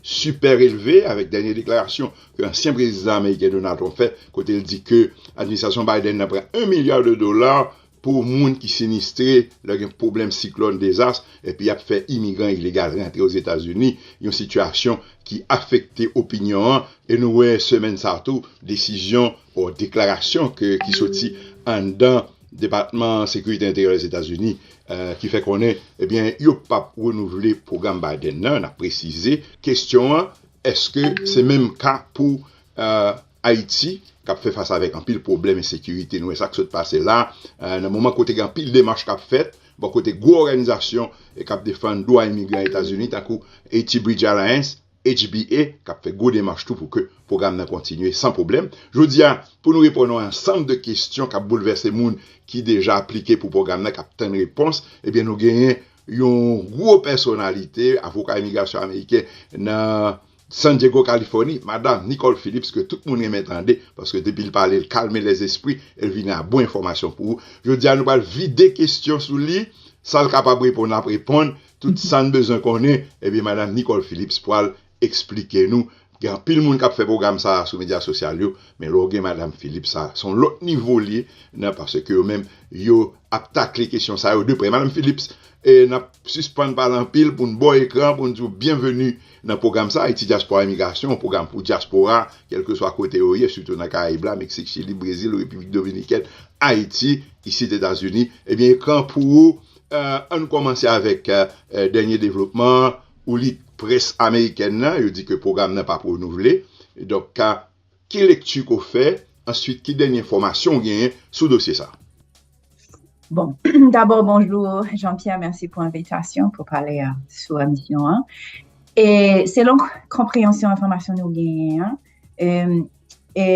Sipèrelve avèk dènye deklarasyon ke ansyen prezidan ameriken Donald Trump fè kote l di ke administrasyon Biden nan pran 1 milya de dola pou moun ki sinistre lè gen pwoblèm siklòn, dezas, epi y ap fè imigran ilegal rantre Ozetazini, yon sitiyasyon ki afekte opinyon an e nou wè semèn sa a tou desizyon or deklarasyon ke ki soti anndan. Depatman Sekirite Enteryè Lèzetazini ki fè konnen ebyen yo pap renouvle pwogram Biden nan, nap presize. Kestyon an, eske se menm ka pou Ayiti kap fè fas avèk anpil pwoblèm ensekirite. Nou wè sak sot pase la nan moman kote gen anpil demach kap fèt bò kote gwo òganizasyon kap defann dwa imigran Etazini tankou Haiti Bridge Alliance. HBA k ap fè gwo demach tou pou ke pwogram nan kontinye san pwoblèm. Jodi a, pou nou reponn yon ansanm de kesyon k ap boulvèse moun ki deja aplike pou pwogram nan k ap tann repons, ebyen nou genyen yon gwo pèsonalite, avoka imigrasyon ameriken nan San Dyego, Kalifòni, Madam Nicole Phillips ke tout moun renmen tande paske depi l pale l kalme lèzespri e l vini a bon enfòmasyon pou ou. Jodi a nou pral vide kesyon sou li, sa l kapab reponn l ap reponn, Tout sa n bezwen konnen ebyen madam Nicole Philips pwal esplike nou, gen anpil moun kap fè pwogram sa sou medya sosyal yo men lè w gen madam Philips sa son lòt nivo liye nan paske yo menm yo ap takle kesyon sa yo de prè madam Philips nap sispann pale anpil pou n ba w ekran pou n di w byenveni nan pwogram sa Ayiti Dyaspora Imigrasyon yon pwogram pou dyaspora kèlkeswa kote yo ye sitou nan karayib la Meksik Chili Brezil Repiblik Dominikèn Ayiti isit Etazini ebyen ekran pou ou An nou kòmanse avèk dènye devlopman ou li, près amerikèn nan, yo di ke pwogram nan pap renouvle. Donk, ki lekti ke w fè, answit ki dènye enfòmasyon ou genyen sou dosye sa? Bon, dabò bonjou Jean Pierre, mèsi pou envitasyon pou pale sou emisyon an. E selon konpreyansyon enfòmasyon nou genyen an, E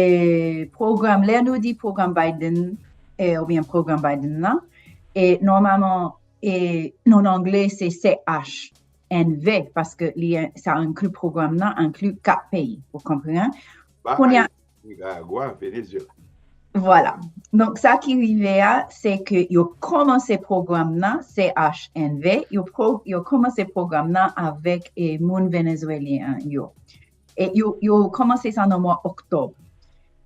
pwogram, lè nou di pwogram Biden, oubyen pwogram Biden lan, e nòmaman, e non an angle se CHNV, paske li an, sa enkli pwogram nan, enkli 4 peyi, ou konpran? Kounye a. Nikaragwa, Venezyela. Vwala. Donk sa ki rive a, se ke yo kòmanse pwogram nan, CHNV, yo kòmanse pwogram nan avèk moun Venezwelyen yo. Yo kòmanse sa nan mwa oktòb.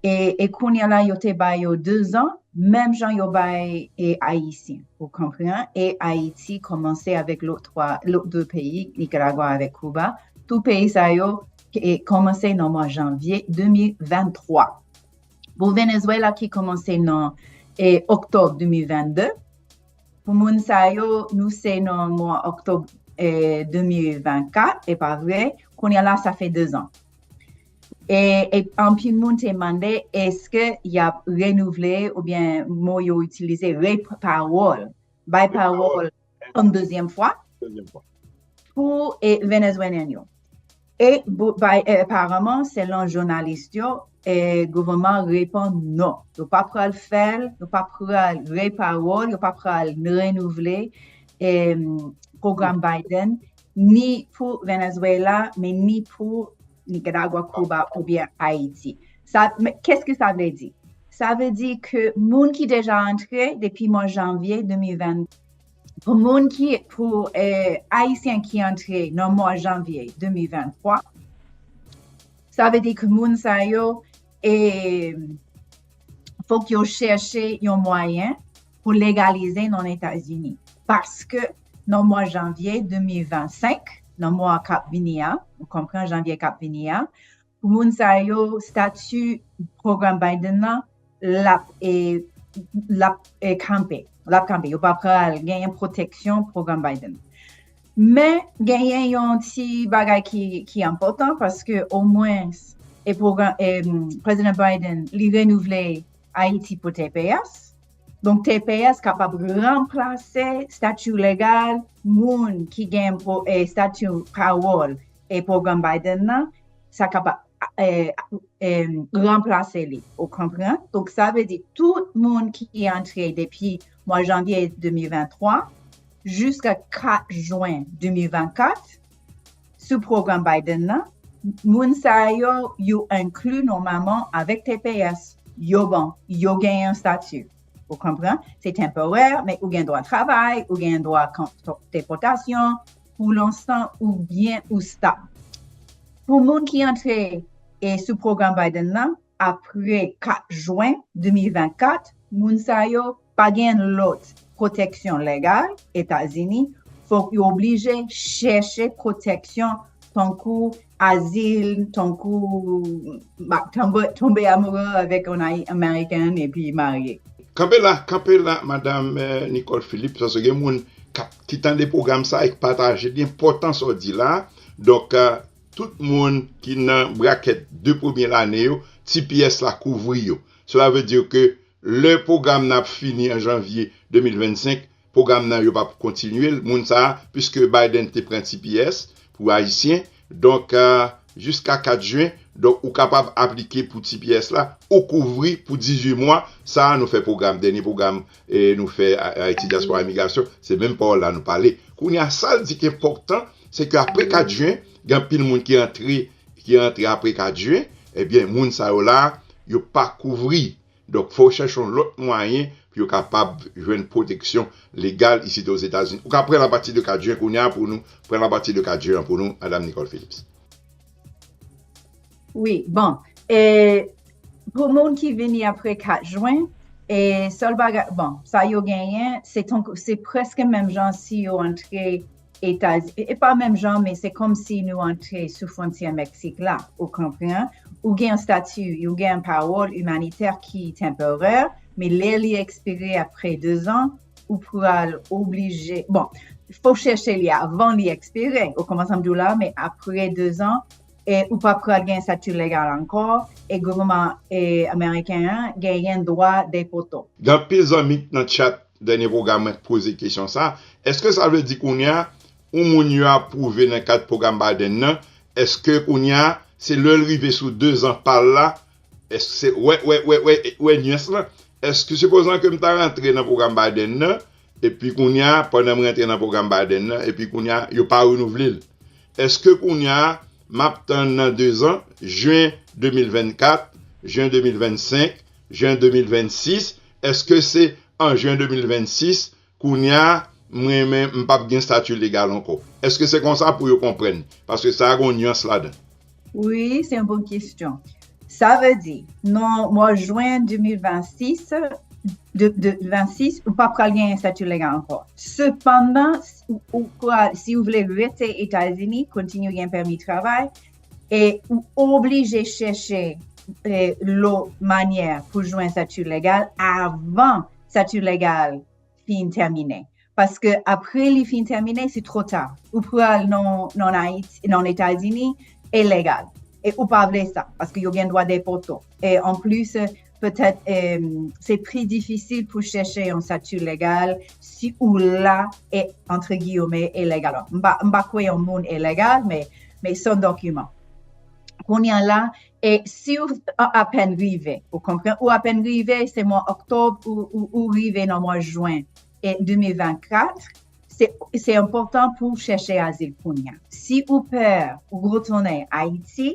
E kounye la yo te bay yo 2 zan, menm jan yo bay e Ayisyen. Ou konpran? E Ayiti kòmanse avèk lòt 3, lòt 2 peyi, Nikaragwa avèk Kouba. Tout peyi sa yo kòmanse nan mwa janvye 2023. Pou Venezwela ki kòmanse nan e oktòb 2022. Pou moun sa yo nou se nan mwa oktòb 2024 epa vre kounye la sa fè 2 zan e anpil moun te mande eske yap renouvle oubyen mo yo itilize re pawòl bay pawòl yon dezyèm fwa pou Venezwelyen yo. E bay aparamman selon jounalis yo gouvènman an reponn non, yo pa pral fè l, yo pa pral re pawòl, yo pa pral renouvle pwogram Biden ni pou Venezwela men ni pou Nikaragwa, Kiba oubyen Ayiti. Keske sa vle di? Sa vle di ke moun ki deja antre depi mwa janvye 2020. Pou moun ki, pou Ayisyen ki antre nan mwa janvye 2023, sa vle di ke moun sa yo, e fok yo chèche yon mwayen pou legalize nan Etazini. Paske nan mwa janvye 2025, nan mwa kap vini a, ou konpran, janvye kap vini a, Pou moun sa yo, stati pwogram Biden nan lap kanpe, lap kanpe, yo pa pral genyen pwoteksyon pwogram Biden nan. Men, genyen yon ti bagay ki enpòtan, paske omwens, Prezidan Biden, li renouvle Ayiti pou tps, donk tps kapab ranplase stati legal moun ki gen stati pawòl e pwogram Biden nan sa kap ranplase li ou konpran donk sa vle di tout moun ki antre depi mwa janvye 2023 jiska 4 jwen 2024 sou pwogram Biden nan moun sa yo yo enkli nòmaman avèk tps yo bon yo gen yon stati ou konpran se temporè men ou gen dwa travay ou gen dwa depòtasyon Pou lonsan ou byen ou stop. Pou moun ki antre e sou pwogram Biden nan apre 4 jwen 2024, moun sa yo pa gen lòt pwoteksyon legal Etazini, fòk yo oblije chèche pwoteksyon tankou azil tankou map tonbe amoure avèk yon american epi marye. Kanpe la, kanpe la madame Nicole Philippe paske gen moun kap ki tande pwogram sa e k pataje li enpòtan sa w di la donk tout moun ki nan brakèt 2 premye lane yo tps la kouvri yo sela vle di ke lè pwogram nan ap fini an janvye 2025 Pwogram nan yo pap kontinye l moun sa puiske Biden te pran tps pou ayisyen donk jiska 4 jen donk ou kapab aplike pou tps la ou kouvri pou 18 mwa sa nou fè pwogram dènye pwogram nou fè Ayiti Dyaspora Imigrasyon se menm pawòl la nou pale kounye a sa l di ki enpòtan se ke apre 4 jen gen anpil moun ki antre ki antre apre 4 jen ebyen moun sa yo la yo pa kouvri Donk, fò w chèche yon lòt mwayen pou yo kapab jwenn pwoteksyon legal isit Ozetazini. Ou ka pran l apati de Cajun kounye a pou nou, pran l apati de Cajun an pou nou, Madam Nicole Phillips. Wi, bon, e, pou moun ki vini apre 4 Jwen, e, sèl bagay, bon, sa yo genyen, se tankou, se prèske menm jan si yo antre. Etazini, e pa menm jan, men se kòm si nou antre sou fwontyè Meksik la, ou konpran, ou gen yon stati, ou gen yon pawòl imanitè ki tanporè, men lè li ekspire apre 2 zan, ou pral oblije, bon, fò chèche li avan li ekspire, ou konpran sa m di w la, men apre 2 zan, e ou pa pral gen stati legal ankò, e gouvènman ameriken an genyen dwa depote w. Gen anpil zanmi nan chat Dènye pwogram mwen poze kesyon sa, Èske sa vle di kounye a ou moun yo apwouve nan kad pwogram Biden nan, èske kounye a se lè l rive sou 2 zan pa l la, èske se, wè, wè, wè, wè, wè nyans lan, èske sipozan ke m ta rantre nan pwogram Biden nan, epi kounye a pandan m rantre nan pwogram Biden nan, epi kounye a yo pa renouvle l, èske kounye a m ap tann nan 2 zan, jen 2024, jen 2025, Jen 2026 eske se an jen 2026 kounya m renmen m pap gen stati legal ankò eske se konsa pou yo konprann paske sa gon nyans ladan. Wi se yon bon kesyon sa vle di nan mwa jwen 2026 2026 ou pap pral gen stati legal ankò sepandan ou pral si ou vle rete etazini kontinye gen pèmi travay E ou oblije chèche lo manyè pou jwen sati legal avan sati legal fin tèmine. Paske apre li fin tèmine, se tro ta. Ou pral nan Etazini, e legal. E ou pa vle sa, paske yo gen dwa depòte w. E anplis, Petèt se pi difisil pou chèche yon stati legal si ou la e antre giyome ilegal. M pa kwe yon moun ilegal, men san dokiman. Kounye a la, e si ou apèn rive, ou konpran, ou apèn rive, se mwa oktòb ou rive nan mwa jwen 2024, se enpòtan pou chèche azil kounye a. Si ou pè ou retounen Ayiti,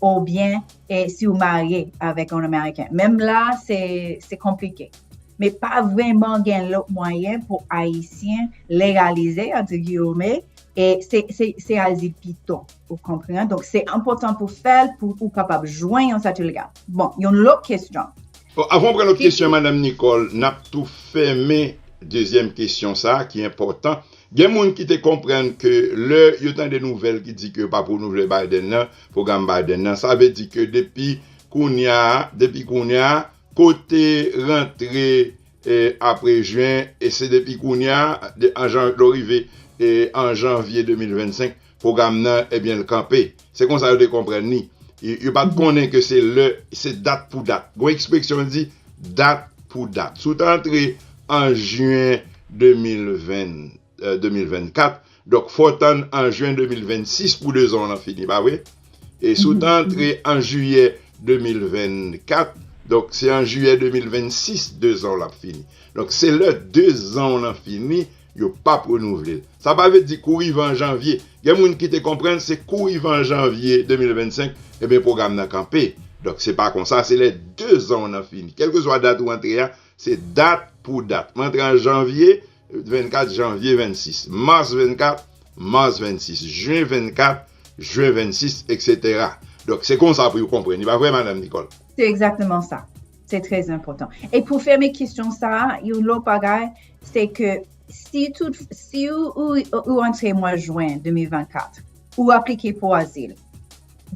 ou byen e si ou marye avèk yon Ameriken. Menm la, se konplike. Men pa vreman gen lòt mwayen pou Ayisyen legalize, an ti giyome, e se al di pito. Ou konprenan? Donk, se anpotan pou fèl pou ou kapab jwen yon sati legal. Bon, yon lòt kesyon. Bon, avan pran lòt kesyon, Madam Nicole, nap tou fèmen dezyèm kesyon sa ki enpotan. Gen moun ki te konprann ke lè yo tande nouvèl ki di ke yo pa p renouvle Biden nan, pwogram Biden nan, sa vle di ke depi kounya a, depi kounya a, kote rantre apre Juin, e se depi kounya a, lè w rive an Janvier 2025, Pwogram nan, ebyen l kanpe. Se konsa yo te konprann li. Yo pa t konnen ke se lè, se dat pou dat. Gon ekspresyon ki di, dat pou dat. Si w ta antre an Juin 2020, 2024, donk fò w tann an Juin 2026 pou 2 zan w lan fini, pa vre? E si w ta antre an Juillet 2024, donk se an Juillet 2026 2 zan w lan ap fini. Donk se lè 2 zan w lan fini, Yo pap renouvle l. Sa pa vle di kou rive an janvye. Gen moun ki te konprann se kou rive an janvye 2025, ebyen pwogram nan kanpe. Donk se pa konsa, se lè 2 zan w nan fini. Kèlkeswa dat ou antre a, se dat pou dat. M antre an janvye 24, janvye 26. Mars 24, mars 26. Juin 24, juin 26, eksetera. Donk se konsa pou yo konprann li. Pa vre, madam Nicole? Se egzakteman sa. Se trè enpòtan. E pou fèmen kesyon sa, yon lòt bagay, se ke si tout, si ou antre mwa jwen 2024, ou aplike pou azil,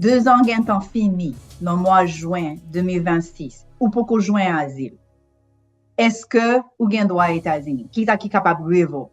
2 zan gen tan fini nan mwa jwen 2026, ou poko jwen azil, eske ou gen dwa Etazini? Kisa ki kapab revoke?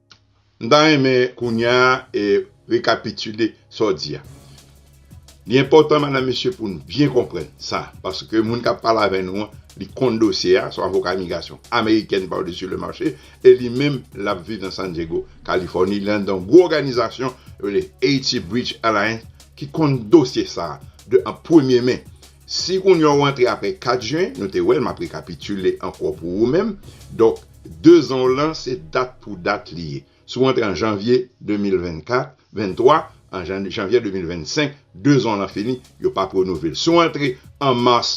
M ta renmen kounya rekapitile sa w di a. Li enpòtan madam mesye pou nou byen konprann sa paske moun k ap pale avè nou an li konn dosye a, son avoka imigrasyon amerikèn par dessus le marché e li menm l ap viv nan San Diego, Kalifòni, li anndan yon gwo òganizasyon yo rele Haiti Bridge Alliance ki konn dosye sa a de an premye men. Si kounya w antre apre 4 jen, nou te wè l, m ap rekapitile ankò pou ou menm, donk 2 zan w lan se dat pou dat li ye. Si w antre an janvye 2024, 23, an janvye 2025, 2 zan w lan fini, yo p ap renouvle l. Si w antre an mas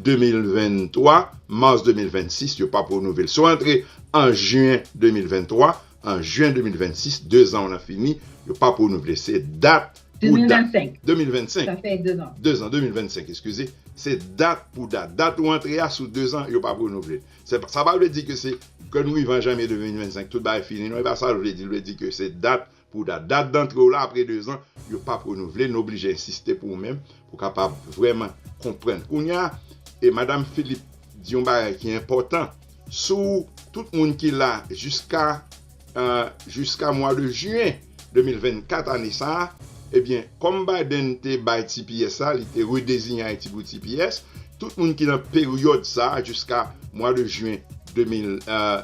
2023, mas 2026, yo p ap renouvle l. Si w antre an jiyen 2023, an jiyen 2026, 2 zan w lan fini, yo p ap renouvle l. Se dat. pou dat 2025 sa fè 2 ans 2 ans 2025 eskize se dat pou dat dat ou antre a sou 2 ans yo pap renouvle sa pa vle di ke se ke nou rive an janvye 2025 tout bagay fini non e pa sa l vle di l vle di ke se dat pou dat dat dantre w la apre 2 ans yo pap renouvle nou oblije ensiste pou ou menm Pou kapab vrèman konprann. Kounye a, e Madam Philippe di yon bagay ki enpòtan sou tout moun ki la jiska jiska mwa de jiyen 2024 ane sa a, ebyen kòm Biden te bay tps la, li te redezinye Ayiti pou tps, tout moun ki nan peryòd sa a jiska mwa de jiyen 2000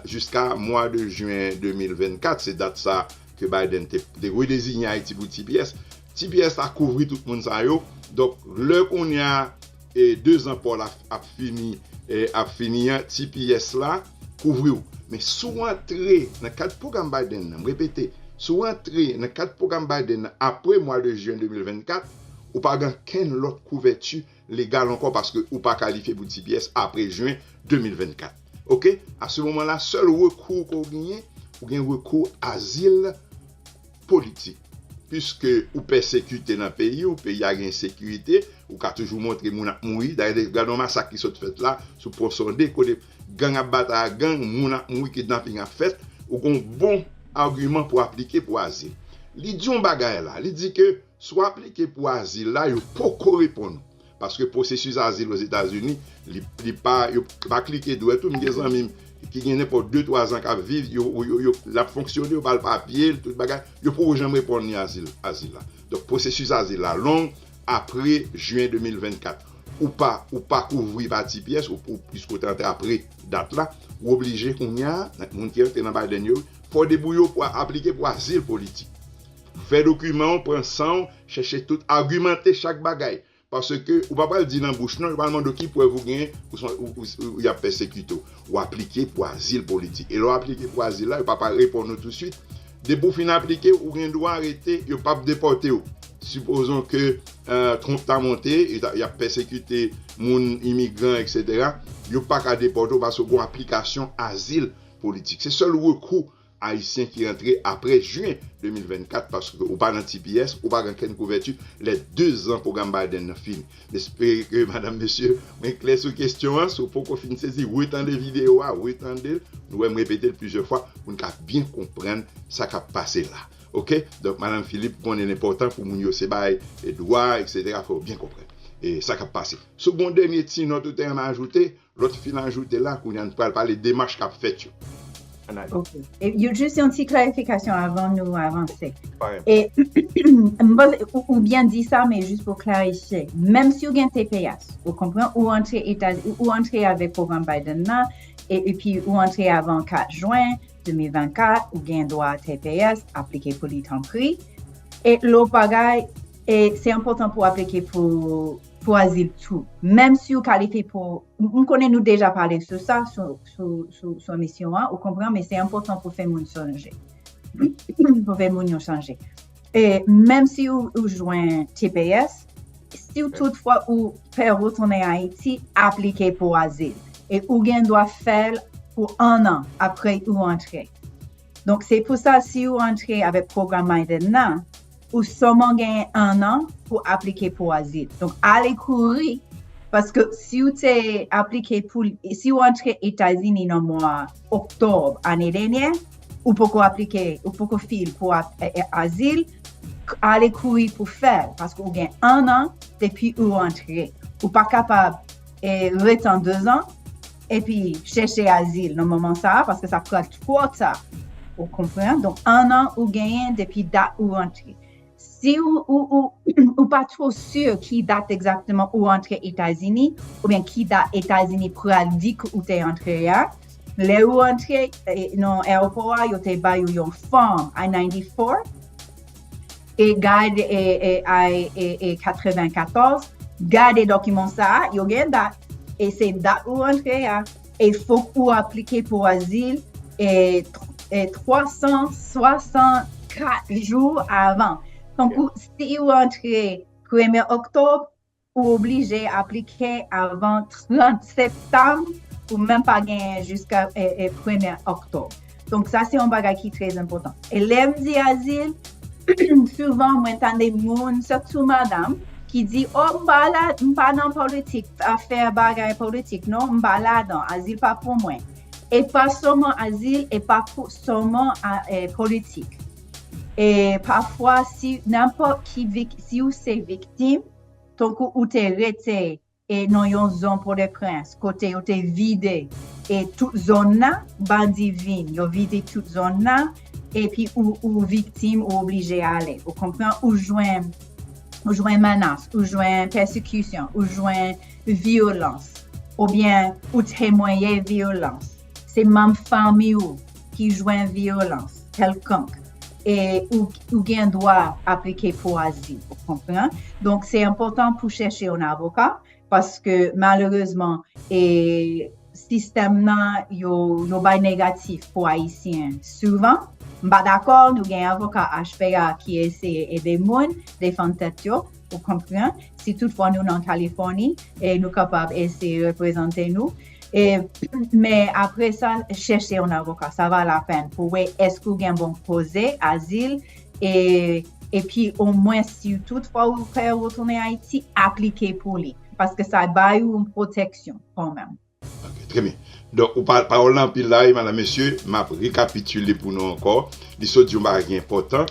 jiska mwa de jiyen 2024, se dat sa ke Biden te redezinye Ayiti pou tps, Ti pyè sa kouvri tout moun sa yo donk lè kounya 2 zan paw la ap fini ap fini an ti pyès la kouvriw men si w antre nan kad pwogram Biden nan m repete si w antre nan kad pwogram Biden nan apre mwa de jen 2024 ou pa gen ankenn lòt kouvèti legal ankò paske ou pa kalifye pou tps apre jen 2024 ok a se moman la sèl rekou ke ou genyen ou gen rekou azil politik piske ou pèsekite nan peyi ou peyi a gen ensekirite ou ka toujou montre moun ap mouri dayè gad yon masak ki sot fèt la sou pon sonde kote gang ap batay ak gang moun ap mouri kidnaping ap fèt ou gon bon agiman pou aplike pou azil li di yon bagay la li di ke. Si w aplike pou azil la, yo poko reponn ou. Paske pwosesis azil Ozetazini, li pa, yo pa klike dwèt ou. M gen zanmi m ki gen nenpòt de twa zan k ap viv, yo, yo, l ap fonksyone, yo ba l papye l, tout bagay, yo poko janm reponn li azil, azil la. Donk pwosesis azil la long apre jen 2024. Ou pa, ou pa kouvri pa ti pyès, ou, ou, piske w te antre apre dat la, ou oblije kounye a, moun ki antre nan Biden yo, fè w debouye w pou aplike pou azil politik. Fè dokiman w, pran san w, chèche tout, agimante chak bagay. Paske ou pa pral di nan bouch non, yo pral mande w ki prèv ou genyen ou se yon, y ap pèsekite w. Ou aplike pou azil politik. E lè w aplike pou azil la, yo pa pral reponn ou tousuit. Depi w fin aplike, ou gen dwa rete, yo p ap depòte w. Sipozon ke Trump ta monte, y ap pèsekite moun, imigran, eksetera, yo pa ka depòte w paske ou gen yon aplikasyon azil politik. Se sèl rekou Ayisyen ki rantre apre Juin 2024 paske ou pa nan tps ou pa gen kenn kouvèti lè 2 zan pwogram Biden nan fini. M espere ke madam mesye mwen klè sou kestyon an, si w poko fin sezi retande videyo a, retande l, nou wè m repete l plizyè fwa pou n ka byen konprann sa k ap pase la ok. Donk madam Philippe konnen l enpòtan pou moun yo se bay dwa etc fò yo byen konprann sa k ap pase. Si w gen yon dènye ti nòt ou te renmen ajoute Lòt fin ajoute la, kounye a n pral pale demach k ap fèt yo. Ok. Yo jis yon ti klarifikasyon avan nou avanse. E m panse ou byen di sa men jis pou klarifye. Menm si ou gen tps, ou konpran, ou antre Etaz, ou antre avèk pwogram Biden nan, e epi ou antre avan 4 jwen 2024, ou gen dwa tps, aplike pou li tanpri. E lòt bagay, e se enpòtan pou aplike pou. Chwazi l tou. Menm si ou kalifye pou, m konnen nou deja pale sou sa sou emisyon an, ou konpran, men se enpòtan pou fè moun sonje. Pou fè moun yo sonje. E menm si ou jwenn tps, si ou tout fwa ou fè retounen Ayiti, aplike pou azil. E ou gen dwa fè l pou 1 an apre ou antre. Donk se pou sa si ou antre avèk pwogram MyDen nan, ou sèlman genyen 1 an pou aplike pou azil. Donk ale kouri paske si ou te aplike pou, si ou antre Etazini nan mwa Oktòb ane dènyè, ou poko aplike, ou poko file pou azil, ale kouri pou fèl paske ou gen 1 an depi ou antre. Ou pa kapab ret an 2 zan. epi chèche azil nan moman sa a paske sa pral twò ta ou konprann donk 1 an ou genyen depi dat ou rantre si ou pa two si ki dat egzakteman ou rantre Etazini oubyen ki dat Etazini pral di ke ou te rantre a lè ou rantre nan aewopò a yo te bay ou yon fòm I-94 E gad AI 94, gade dokiman sa a, yo gen dat, e se dat ou rantre a, e fok ou aplike pou azil 364 jou avan. Tankou si ou rantre premye oktob, Ou oblije aplike avan 30 septanm, ou menm pa genyen jiska premye oktòb. Donk sa se yon bagay ki trè enpòtan. E lè m di azil, souvan mwen tande moun, sitou madam, ki di, o m pa la, m pa nan politik, afè bagay politik, non, m pa ladan, azil pa pou mwen. E pa sèlman azil, e pa sèlman politik. E pafwa, si nenpòt ki, si ou se viktim, Tankou ou te rete e nan yon zon podeprens kote yo te vide e tout zon nan bandi vin yo vide tout zon nan epi ou viktim ou oblije ale ou konpran ou jwenn ou jwenn manas ou jwenn pèsikisyon ou jwenn vyolans oubyen ou temwaye vyolans. Se manm fanmi ou ki jwenn vyolans kèlkonk e ou gen dwa aplike pou azil, ou konpran. Donk, se enpòtan pou chèche yon avoka, paske malerezman, sistèm nan yo bay negatif pou Ayisyen souvan. M pa dakò, nou gen avoka HPA ki eseye ede moun defann tèt yo, ou konpran. Si toutfwa nou nan Kalifòni, nou kapab eseye reprezante nou. Men apre sa, chèche yon avoka. Sa va lapenn pou wè èske ou gen bon koze azil e pi omwen si tout fwa ou fè retounen Ayiti, aplike pou li. Paske sa bay ou yon pwoteksyon kanmenm. Ok, trè byen. Donk, ou pale, pawòl lan anpil la wi, madanm, mesye, m ap rekapitile pou nou ankò. Li sot di yon bagay ki enpòtan.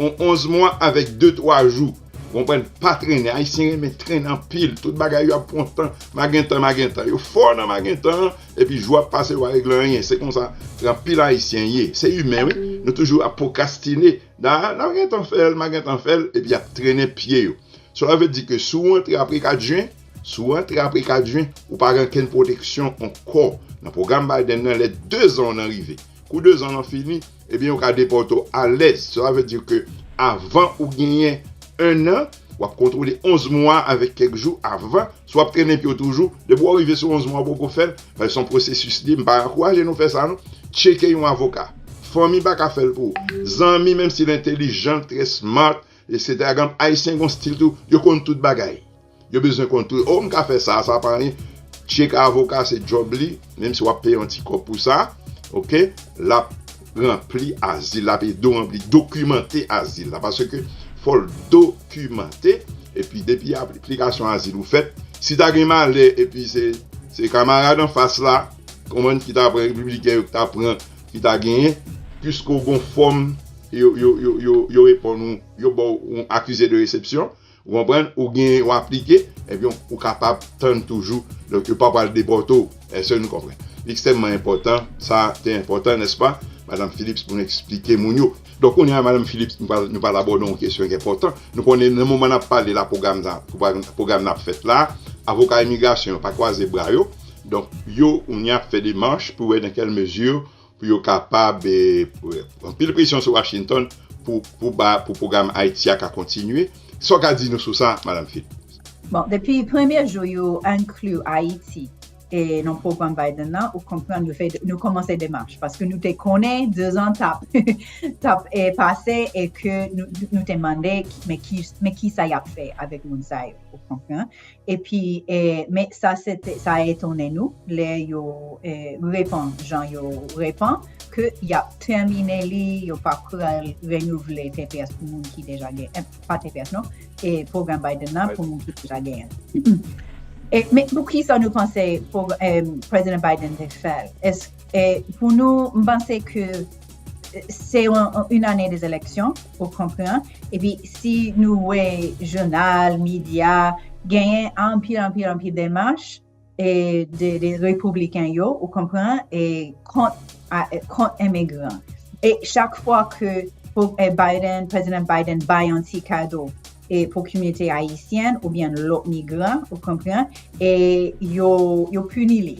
On 11 mwa avèk de twa jou. Konprann, pa trennen. Ayisyen renmen trennen anpil. Tout bagay yo ap pran tan. Magentan, magentan. Yo fò nan magentan an, epi jou ap pase yo pa regle anyen. Se konsa anpil Ayisyen ye. Se imen wi. Nou toujou ap pwokrastine. Nan, n ap gen tan fè l, magentan fè l, epi y ap trennen pye yo. Sela vle di ke si w antre apre 4 jen, si w antre apre 4 jen, ou pa gen okenn pwoteksyon ankò. Nan pwogram Biden nan, lè dezan w nan rive. Kou 2 zan lan fini, ebyen yo ka depòte w alèz. Sela vle di ke avan ou genyen 1 an, w ap kontwole 11 mwa avèk kèk jou avan. Si w ap trennen pye w toujou, depi w rive sou 11 mwa ou poko fè l, paske se yon pwosesis li, m pa ankouraje nou fè sa non, tcheke yon avoka. Fanmi pa ka fè l pou ou. Zanmi, menm si l entelijan, l trè smart, eksetera, gad, Ayisyen gen yon stil tou, yo konn tout bagay. Yo bezwen kontre oh m ka fè sa, sa pa anyen Check a avoka se job li, menm si wap peye yon ti kòb pou sa ok Lap ranpli azil, lap ede w ranpli, dokimante azil la Paske fò l dokimante Epi depi aplikasyon azil ou fèt Si ta gen malè epi se se kamarad anfas la konprann ki ta pran repibliken yo ki ta pran ki ta genyen Piske w gen yon fòm yo yo yo yo reponn ou yo ba w yon akize de resepsyon Ou konprann? Ou genyen ou aplike, ebyen ou kapab tann toujou, donk yo pa pral depòte w. Èske nou konprann? Li ekstèmman enpòtan, sa te enpòtan, nèspa, Madam Phillips, pou nou eksplike moun yo. Donk kounye a, Madam Phillips, nou pral, nou pral abòde yon kesyon ki enpòtan. Nou konnen nan moman n ap pale la pwogram sa, pwogram nan ap fèt la, avoka imigrasyon yo pa kwaze bra yo, donk yo kounye a ap fè demach pou wè nan kèl mezi pou yo kapab anpil presyon sou Washington pou pwogram Ayiti a ka kontinye. Sa w ka di nou sou sa, Madam Philp? Bon, depi premye jou yo enkli Ayiti nan pwogram Biden nan, ou konprann nou kòmanse demach, paske nou te konnen dezan t ap pase e ke nou te mande men kisa y ap fè avèk moun sa yo, ou konprann? Epi, men sa a etonnen nou, lè yo repan jan yo repan, ke y ap tèmine li, yo pa pral renouvle tps pou moun ki deja gen, pa tps non, pwogram Biden nan pou moun ki deja genyen. Men pou ki sa nou panse Prezidan Biden te fè l? Pou nou, m panse ke Se yon ane de eleksyon, ou konpran, epi si nou wè jounal, medya, genyen anpil, anpil, anpil demach de repibliken yo, ou konpran, kont emigran. E chak fwa ke Biden, Prezidan Biden bay yon ti kado, e pou kominote ayisyen ou byen lòt migran ou konpran e yo yo puni li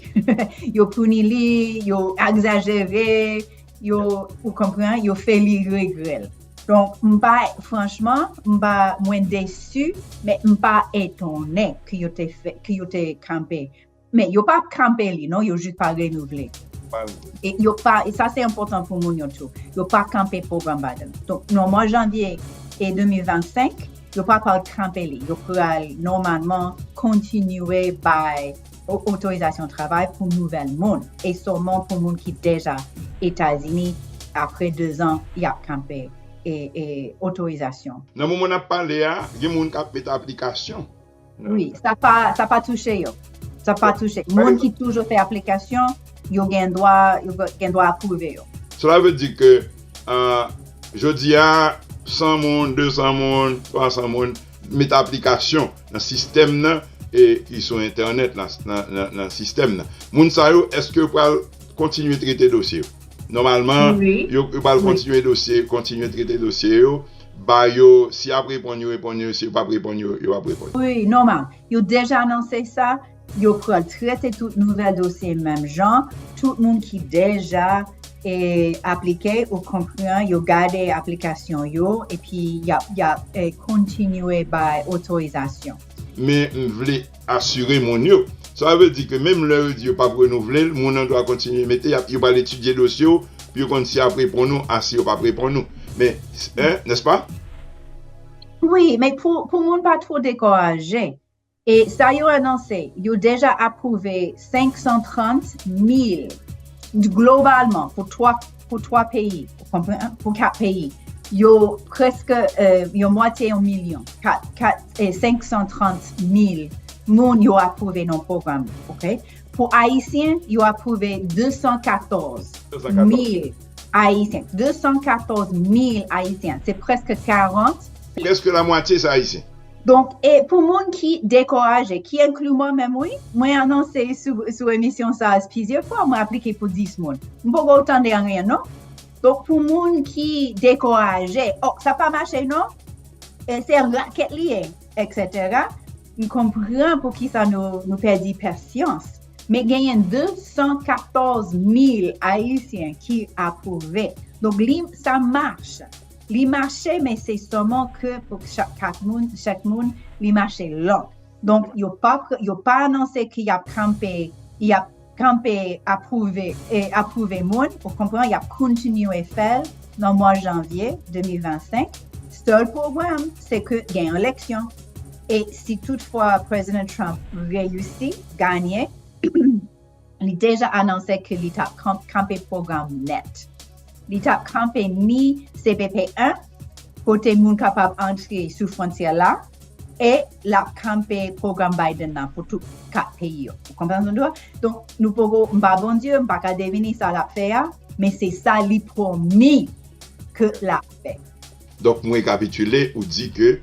yo puni li yo akzajere yo ou konpran yo fè li regrè l donk m pa franchman m pa mwen desu men m pa etone ke yo te kanpe Men yo pa kanpe li non, yo jis pa renouvle. E yo pa, e sa se enpotan pou moun yo tou, yo pa kanpe pwogram Biden. Donk, nan mwa janvye e 2025, yo pa pral kanpe li. Yo pral nòmalman kontinye bay otorizasyon travay pou nouvèl moun. E sòlman pou moun ki deja Etazini, apre 2 zan, y ap kanpe otorizasyon. Nan moman n ap pale a, gen moun k ap met aplikasyon. Oui, sa pa, sa pa touche yo. Sa pa touche. Moun ki toujou fè aplikasyon, yo gen dwa, yo gen dwa apwouve yo. Sela vle di ke, jodi a, 100 moun, 200 moun, 300 moun met aplikasyon nan sistèm nan e ki sou entènèt la, nan sistèm nan. Moun sa yo, èske yo pral kontinye trete dosye yo? Nòmalman, yo pral kontinye dosye, kontinye trete dosye yo. Ba yo, si yap reponn yo reponn yo, si yo pap reponn yo, yo pap reponn. Wi, nòmal. Yo deja anonse sa, yo pral trete tout nouvèl dosye menm jan, tout moun ki deja e aplike ou konpran yo gade aplikasyon yo epi yap yap kontinye bay otorizasyon. Men m vle asire moun yo. Sa vle di ke menm lè yo di yo pap renouvle l, moun an dwa kontinye mete, yap yo pral etidye dosye w pou yo konn si yap reponn ou a si yo pap reponn ou. Men, eh, n'est-ce pas? Wi, men pou pou moun pa two dekouraje, e sa yo anonse, yo deja apwouve 530 mil globalman pou 3. pou 3 peyi, ou konpran, pou 4 peyi, yo preske yon mwatye yon milyon, 530 mil moun yo apwouve nan pwogram nan, ok? Pou Ayisyen, yo apwouve 214 mil Ayisyen. 214 mil Ayisyen, se preske 40. Preske la mwatye se Ayisyen. Donk e pou moun ki dekouraje, ki enkli mwen menm wi, mwen anonse sou emisyon sa plizyè fwa mwen aplike pou 10 moun. M poko tande anyen non. Donk pou moun ki dekouraje, oh sa pa mache non, se yon rakèt li ye, eksetera, m konpran pou kisa nou pèdi pasyans. Men genyen 214 mil ayisyen ki apwouve. Donk li sa mach. Li mache men se soman ke pou chak moun li mache lan. Donk yo pa anonse ke yap kanpe, yap kanpe apwouve, apwouve moun, ou konpran, yap kontinye fèl nan mwa janvye 2025. Sèl pwoblèm se ke gen yon eleksyon. E si tout fwa Prezidan Trump reyisi ganye. li deja anonse ke li tap kanpe pwogram nèt. Li tap kanpe ni CBP 1, kote moun kapab antre sou fwontyè la, e lap kanpe pwogram Biden nan pou tout 4 peyi yo. Ou konprann sa m di w la? Donk, nou poko, m pa Bondye, m pa ka devine sa lap fè a, men se sa li pwomi ke lap fè. Donk, m rekapitile, ou di ke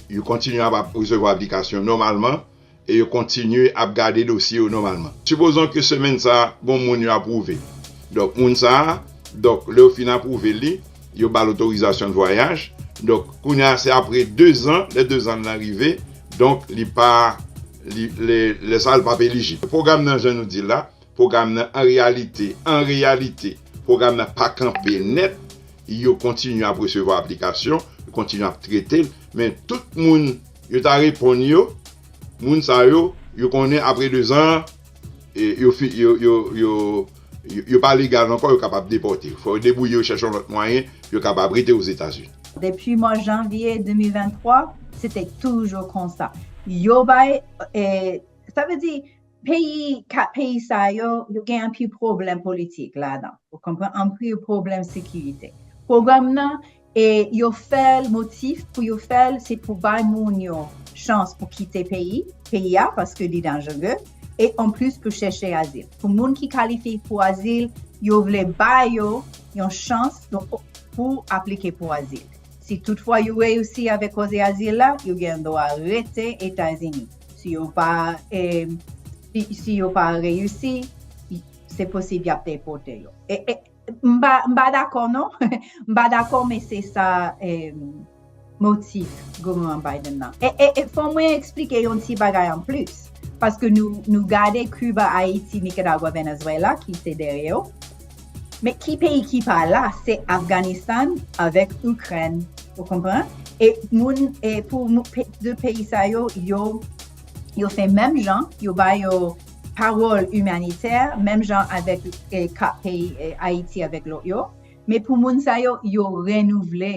yo kontinye ap resevwa aplikasyon nòmalman. e yo kontinye ap gade dosye yo nòmalman. Sipozon ke semèn sa a, gon moun yo apwouve. Donk moun sa a, donk lè yo fin apwouve li, yo ba l otorizasyon de vwayaj. Donk kounye a se apre dezan, lè dezan l lan rive, donk li pa, li, lè sa a li pa ap elijib. Pwogram nan jan nou di l la, Pwogram nan an reyalite an reyalite pwogram nan pa kanpe nèt yo kontinye ap resevwa aplikasyon yo kontinye ap trete l men tout moun yo ta reponn yo moun sa yo yo konnen apre 2 zan an yo fi yo yo yo yo pa legal ankò yo kapab depòte yo fò yo debwouye yo chèche yon lòt mwayen pou yo kapab rete ozetazini. Depi mwa janvye 2023 se te toujou konsa yo bay sa vle di. Peyi ka peyi sa yo, yo gen anpil pwoblèm politik ladan. Ou konpran? Anpil pwoblèm sekirite. Pwogram nan, e yo fè l motif pou yo fè l se pou bay moun yo chans pou kite peyi, peyi a paske li danjere, e anplis pou chèche azil. Pou moun ki kalifye pou azil, yo vle ba yo yon chans pou aplike pou azil. Si tout fwa yo reyisi avèk koze azil la, yo gen dwa rete Etazini. si yo pa si yo pa reyisi se posib yap depote yo m pa dakò non m pa dakò men se sa motif gouvènman Biden nan e fò mwen eksplike yon ti bagay an plis paske nou gade Cuba, Haiti, Nicaragua, Venezuela ki se dèyè yo Men ki peyi ki pa la se Afganistan avèk Ikrèn ou konpran e moun e pou 2 peyi sa yo yo fè menm jan yo ba yo pawòl imanitè menm jan avèk e ka peyi Ayiti avèk lòt yo men pou moun sa yo yo renouvle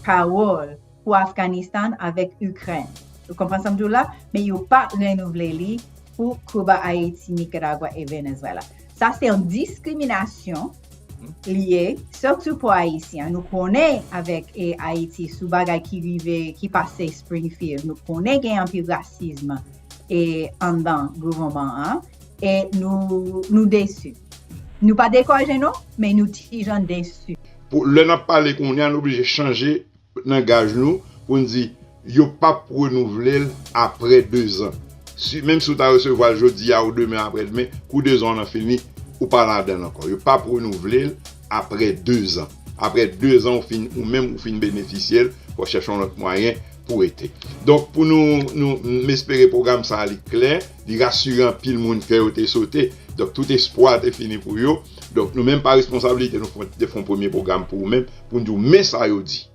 Pawòl pou Afganistan avèk Ikrèn. Ou konprann sa m di w la? Men yo pa renouvle li pou Kuba, Ayiti, Nikaragwa e Venezwela. Sa se yon diskriminasyon li ye, sitou pou Ayisyen. Nou konnen avèk Ayiti sou bagay ki rive, ki pase Springfield. Nou konnen gen anpil rasism anndan gouvènman an e nou desu. Nou pa dekouraje non, men nou ti jan desu. Lè nap pale kounya nou oblije chanje nangaj nou pou n di yo pap renouvle l apre 2 zan. Menm si ou ta resevwa l jodi a ou demen apre demen, kou 2 zan w nan fini, ou pa ladan l ankò. Yo pap renouvle l apre 2 zan. Apre 2 zan ou fin ou menm ou fin benefisye l, fò w chèche yon lòt mwayen pou rete. Donk pou nou, m espere pwogram sa li klè, li rasire anpil moun kè yo te sote. Donk tout espwa te fini pou yo. Donk nou menm pa responsabilite nou fon te fon premye pwogram pou ou menm pou n di w men sa yo di.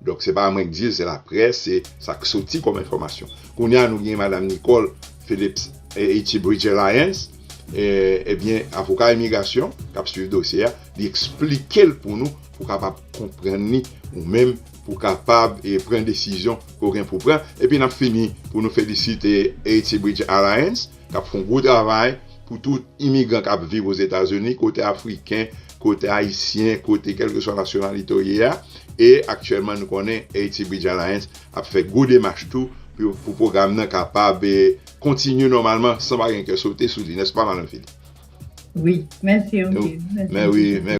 Donk se pa mwen k di l, se laprès, se sa k soti kòm enfòmasyon. Kounye a nou gen madam Nicole Phillips Etibridger Lyons, ebyen avoka imigrasyon k ap swiv dosye a, li eksplike l pou nou pou w kapab konprann li ou menm pou w kapab pran desizyon ke w gen pou w pran. Epi n ap fini pou nou felisite Etibridger Lyons. N ap fè yon gwo travay pou tout imigran k ap viv Ozetazini, kote Afriken, kote Ayisyen, kote kèlkeswa nasyonalite w ye a. E aktyèlman nou konnen Haiti Bridge Alliance ap fè gwo demach tou pou pwogram nan kapab kontinye nòmalman san pa gen kè sote sou li, nèspa Madan Philippe? Wi. Mèsi anpil. Mèsi anpil.